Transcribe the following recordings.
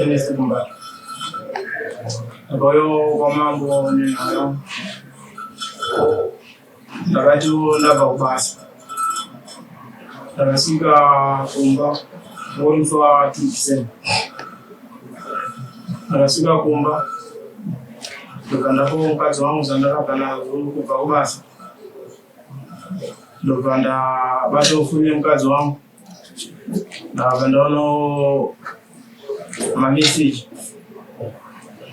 Enesimba ndakauyawo kwamambo nenharo ndakati ndabva kubasa ndakasvika kumba vorutswa tusen ndakasvika kumba ndobva ndapo mukadzi wangu zvandakabva nazvo kubva kubasa ndobva ndabatofunye mukadzi wangu ndakabva ndaono mameseji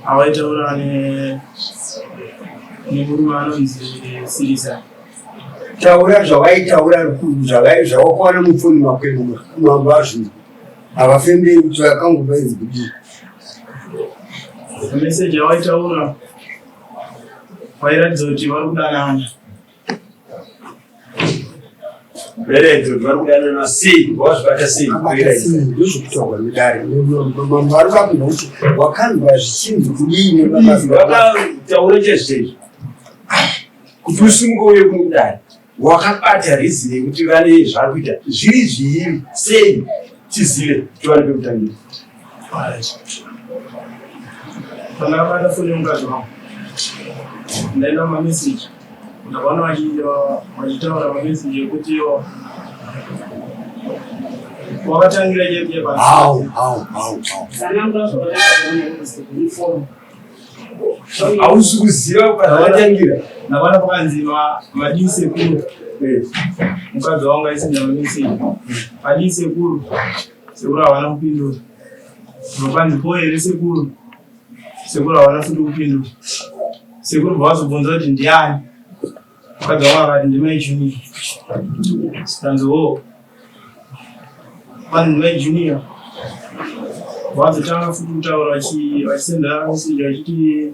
awaitaura nemurume anonzi sirisa taura zvawaitaura zvawakwana mupfoni makwenu mambo azvinhu havafemberi kuti vakanguva inzi kudii meseji yawaitaura wairatidza kuti vari kudanana Mberede vari kudana na sei wazvibata sei kukwira izvi ndozvokutaurwa nedare mambo vari vakunda kuti wakanzwa zvichinzi kudii nevakataura chezvezvi kuti usimuka uye kuno kudare wakabata rizini yekuti vane zvakuita zviri zviiri sei tizive tiwane pekutangira pandakabata foni yemukadzi wangu ndaenda mameseji ndakaona vachitaura mameseji ekuti wakatangira hausi kuziva kwaatangira ndakaona pakanzi madii sekuru mukadzi wangu aisina mameseji madii sekuru Sekuru havana kupindura. Unopa ndipo here sekuru? Sekuru havana futi kupindura. Sekuru bvavazobvunza kuti ndiani? Mukadzi wangu akati ndimai Junior. Sikanzi wo. Kwani ndimai Junior. Bvavazotanga futi kutaura vachisendera meseji vachiti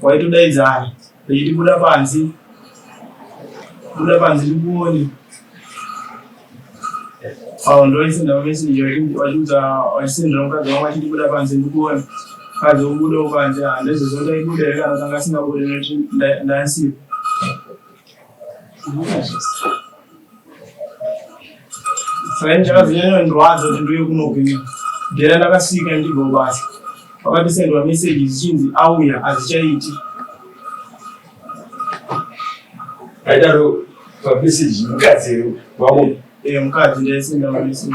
kwaitodaidzana vechiti buda panze buda panze ndikuone awo ndoisenda mameseji vachiudza vachisendera mukadzi wangu achiti buda panze ndikuone mukadzi wobudawo panze handizozondaibuda here kana kanga asingabude nekuti ndaisipo ndakazinyanyondirwadza kuti ndiuye kunogwinya ndera ndakasika ndibva kubasa vakatosendwa meseji dzichinzi auya hazichaiti aidaro pameseji mukadzi wavo eh, mukadzi ndaisenda mameseji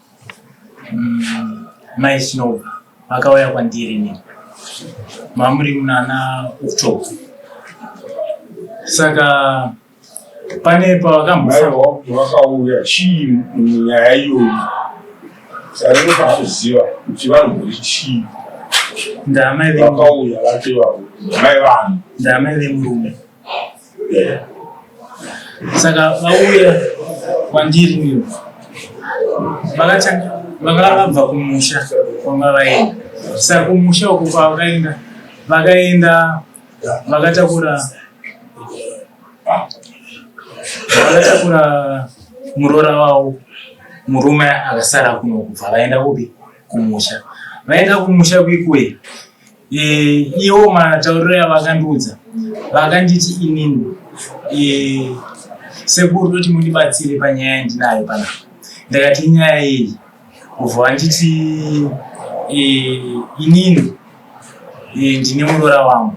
Mm, mai snow vakauya kwandiri ni mamuri munana october saka pane pavakamboakauya chii nyaya iyoyi saringe pakuziva kuti vanombori chii ndamai vakauya vate vavo ndamai vanhu ndamai vemurume saka vauya kwandiri vakatanga vakava vabva kumusha kwanga vaenda saka kumusha uko kwavakaenda vakaenda vakatakura vakatakura muroora wavo murume akasara kuno kubva vaenda kupi kumusha vaenda kumusha kwikwe Eh, iwo matauriro yavakandiudza vakanditi inini eh, sekuru toti mundibatsire panyaya yandinayo panapa ndakati nyaya iyi ubva vanditi eh, inini ndine muroora wangu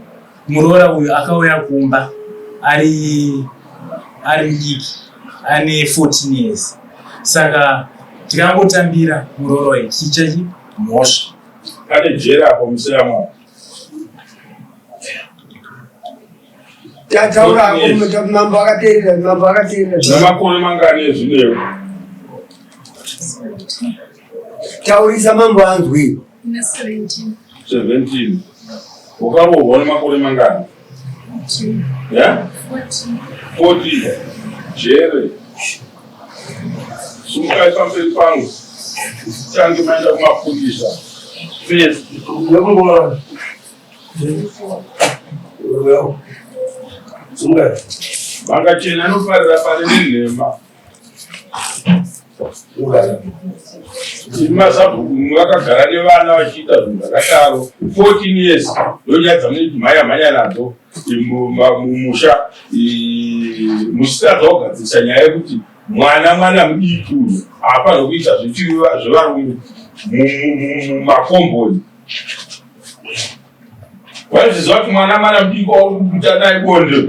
muroora uyu akauya kumba ari ari mudiki ane 14 years saka tikangotambira muroora uyu tichichachi mhosva Pane jere apo musina mwana. Tataura hapo mmeta mambo akateerera mambo akateerera. Na makore mangani ezvineo? Taurisa mambo anzwi. Na 17. 17. Ukarohwa nemakore mangani? Yeah? 40. Jerry. Sumukai pamberi pangu. Tange maenda kumapurisa. Please. Sumukai. Vakachena anofarira pari nenhema. mazabhuku vakagara nevana vachiita zvinhu zvakadaro 14 years ndonyadza munoti mhanya mhanya nadzo mumusha musitadza kugadzirisa nyaya yekuti mwana mwana mudiki uyu haafanira kuita zvevarume mumakomboni waizviziva kuti mwana mwana mudiki wauri kukuta naye bonde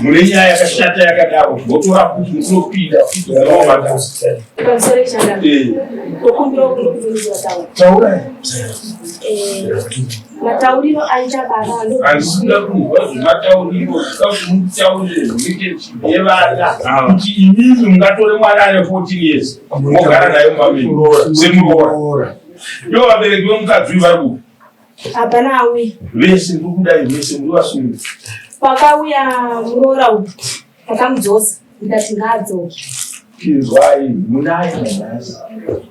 mune nyaya yakashata yakadaro votora kuti mukunopinda taurai matauriro aita babaandisina kunzwa zvematauriro zvikazvimutaurire zvinoite zvivana kuti imimi mungatore mwana ane 14 years mogara nayo mamisemuroora ndo vabereki vemukadzi uyu vari kupi Hapana auya. Vese muri kudai vese muri vasungu. Pakauya muroora uyu akamudzosa ndikati ngaadzoke. Tinzwai munai manhasi.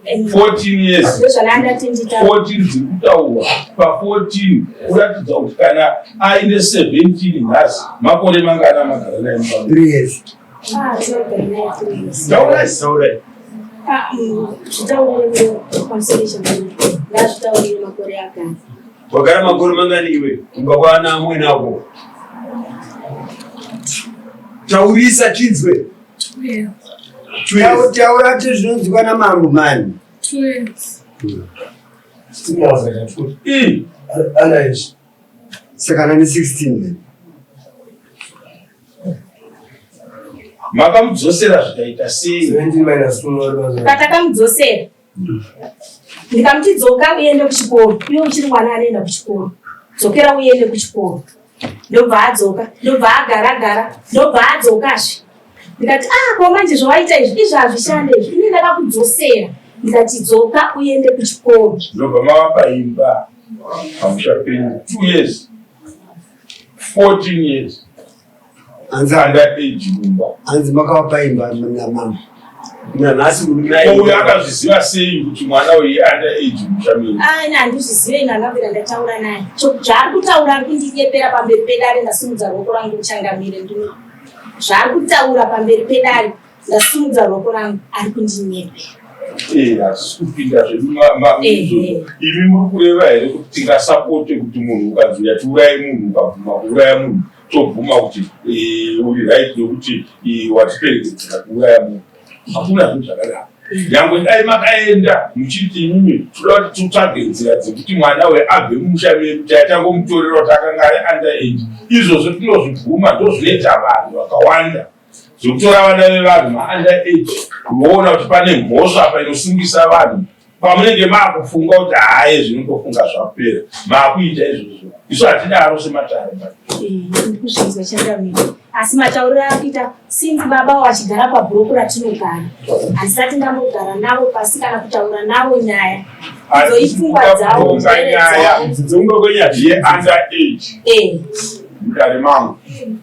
14 years. Ndozvanandati ndita. 14 dziri kutaurwa pa 14 kuratidza kuti kana aine 17 nhasi makore mangana magara naye. 3 years. Taurai, taurai. Ah, mm, Wagara makore mangani iwe? Kumba kwana amwene ako. Taurisa chinzwe. Taura ti zvinonzwa na mambo mani. Two years. Two years. Ana izvi. Saka nani 16 then. Makamudzosera zvikaita sei? 17 minus 2 noreva. Patakamudzosera. Ndikamuti dzoka uende kuchikoro. Iwe uchiri mwana anoenda kuchikoro. Dzokera uende kuchikoro. Ndobva adzoka. Ndobva agara gara. Ndobva adzoka zve. Ndikati ah kwa manje zvawaita izvi izvi hazvishande izvi. Ini ndakakudzosera. Ndikati dzoka uende kuchikoro. Ndobva mavapa imba. pamusha penyu two years 14 years hanzi handa age mumba hanzi makavapa imba namama nanhasi uyu akazviziva sei kuti mwana uyu under age musha menyu ah, ina handizvizive ina ndabvira ndataura naye zvaari kutaura ari kundinyepera pamberi pedare ndasimudza ruoko rangu uchangamire ndino zvaari kutaura pamberi pedare Ndasimudza ruoko rangu ari kundinyepera. Eh, hatisi kupinda zvedu mamizvozvo. Imi muri kureva here kuti tingasapote kuti munhu ukanzi yatiuraye munhu ukabvuma kuuraya munhu tobvuma kuti eh, uri right yokuti eh, watiperekedzera kuuraya munhu hakuna zvinhu zvakadaro nyangwe dai makaenda muchiti imimi toda kuti titsvage nzira dzekuti mwana uyo abve mumusha medu taitangomutorera kuti akanga ari under age izvozvo tinozvibvuma ndozvinoita vanhu vakawanda zvekutora vana vevanhu vaanda age kuvoona kuti pane mhosva apa inosungisa vanhu pamunenge maakufunga kuti haye zvinongofunga zvapera maakuita izvozvo isu hatidaro sematare ndikuzvinzwa chandamira asi matauriro akuita since baba wachigara pabhuroku ratinogara handisati ndambogara navo pasi kana kutaura navo nyaya dzoipfungwa dzavo nyaya dzongogonyaya zviye under age mudare mangu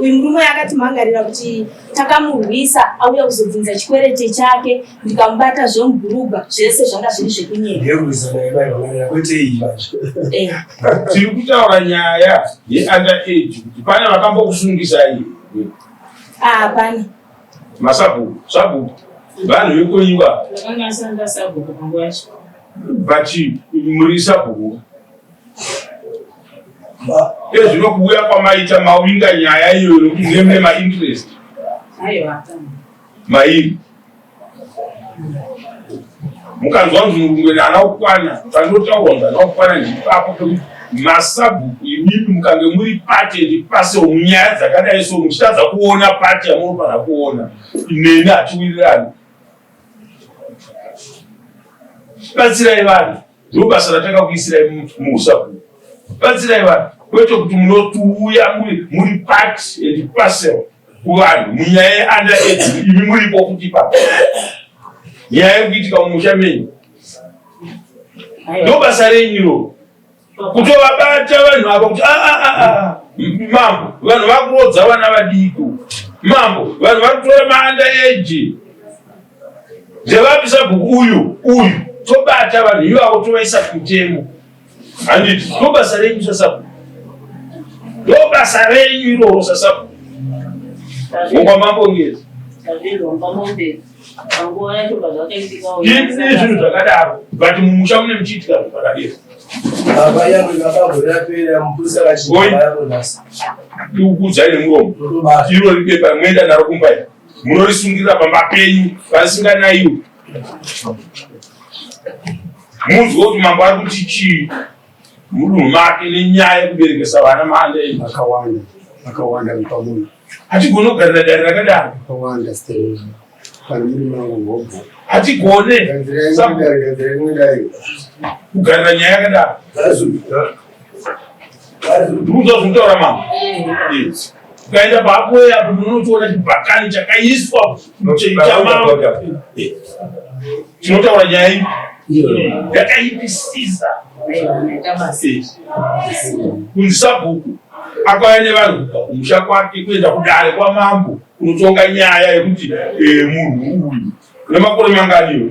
uyu murume akatimhangarira kuti takamurwisa auya kuzobvunza chikwerete chake ndikamubata zvemubhurugwa zvese zvanga zviri zvekunyeakweteivatiri eh. kutaura nyaya yeunder age kuti pane vakambokusungisai ah, hapana masabhuku sabhuku vanhu vekoiwa but muri sabhuku Iye zvino kuuya kwamaita mawinga nyaya iyoyo nokuti ndiye mune mainterest mairi mukanzwa kuti murungwe naana kukwana panotaurwa kuti ana kukwana ndipapo pekuti masabhuku imimi mukange muri pati ndipase munyaya dzakadai so muchitadza kuona pati yamunofanira kuona neni hatiwirirani batsirai vanhu Ndobasa ratakakuisirai muusabhuku. Batsirai vanhu kwete kuti munotiuya muri part and parcel kuvanhu munyaya yeanda edu imi muripo kuti pa nyaya yekuitika mumusha menyu ndobasa renyu ro kutovabata vanhu ava kuti ah, ah, ah, mambo vanhu vakurodza vana vadiko mambo vanhu vari kutora maanda eji Ndevapi sabhuku uyu uyu tobata vanhu ivavo tovaisa kutemo handiti ndobasa renyu sasabhuku ndobasa renyu iroro sasabhuku ngomba mambongezi izvi zvinhu zvakadaro but mumusha mune muchiitika zvinhu zvakadero kuudzai nemuromo iro ripepa mwoenda naro kumbaira munorisungirira pamba penyu vasinganaiwo munzwe kuti mambo ari kuti chii mudunhu make nenyaya yekuberekesa vana maanda enyu akawanda akawanda nepamunhu hatigone kugarira dare rakadaro akawanda kana muri mangu hobho hatigone kugarira nyaya yakadaro Ndikuzo zvitaura mama. Yes. Ukaenda papo ya unotoona chibhakani chakaiswa chechamama. Chinotaura nyaya iyi. Yakaipisisa. Kunzi sabhuku akauya nevanhu kubva kumusha kwake kuenda kudare kwamambo kunotonga nyaya yekuti eh, munhu uyu nemakore manganiwo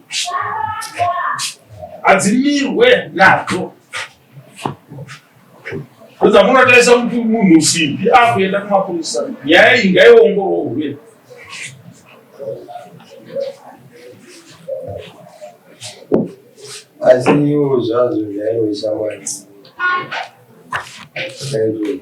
hadzimirwe nadzo dzamunotarisa kuti munhu usimbi akuenda kumapurisa nyaya iyi ngaiongororwe asi iwo zvazvo zvainoisa mwana Thank you.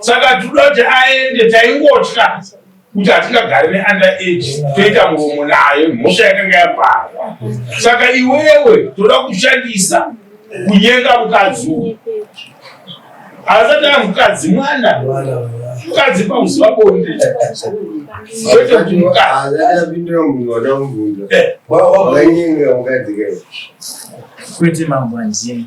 saka tinoda kuti aende taingotya kuti hatingagari neander age toita muromo nayo mhosva yakanga yapara saka iwewe toda kushandisa kunyenga mukadzi uyu asati a mukadzi mwana mukadzi pakuziva bonde kwete kuti mukazapindira munhu wadamuunza wainyenga mukadzi kai kwete mambo anzini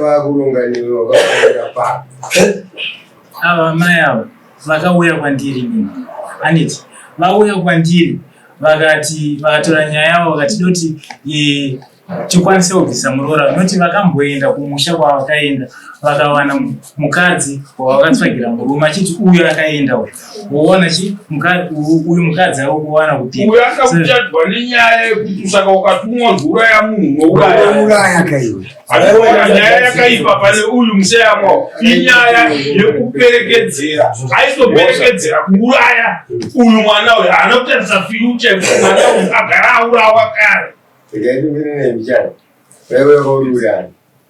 vakuronga newe wakafanira pa ava amai ava vakauya kwandiri nini aniti vauya kwandiri vakati vakatora nyaya yavo vakati doti e, tikwanise kubvisa muroora noti vakamboenda kumusha kwavakaenda vakawana mukadzi wavakatsvagira murume achiti uyo akaenda uyo woona chi uyu mukadzi ari kuwana kuti uyu asa kuchadwa nenyaya yekuti usaka ukatumwa kuuraya munhu nouraya kaiwe nyaya yakaipa pane uyu museyamwa inyaya yekuperekedzera aisoperekedzera kuuraya uyu mwana uyu haana kutarisa fyucha yekuti mwana uyu agara aurawa kare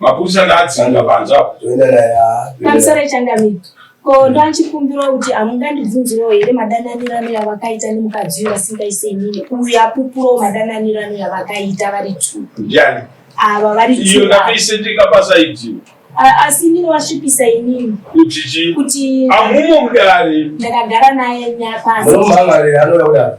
Mapurisa ngaadzanga panze apo. Toenda naye. ah, toenda Pamusoro naye. echangamire. Ko ndoachikumbirawo kuti hamungandibvunzirawo here madananirano yavakaita nemukadzi uyu vasingaise inini uyu apupurawo madananirano yavakaita vari two Ndiani? ava vari Iyo two ava. ndakaisendeka pasaidhiyo. A- asi inini wasvipisa inini Kuti chii? kuti Amumo mudare. ndakagara naye nyapasi Muno mhamharira anoda kudaro.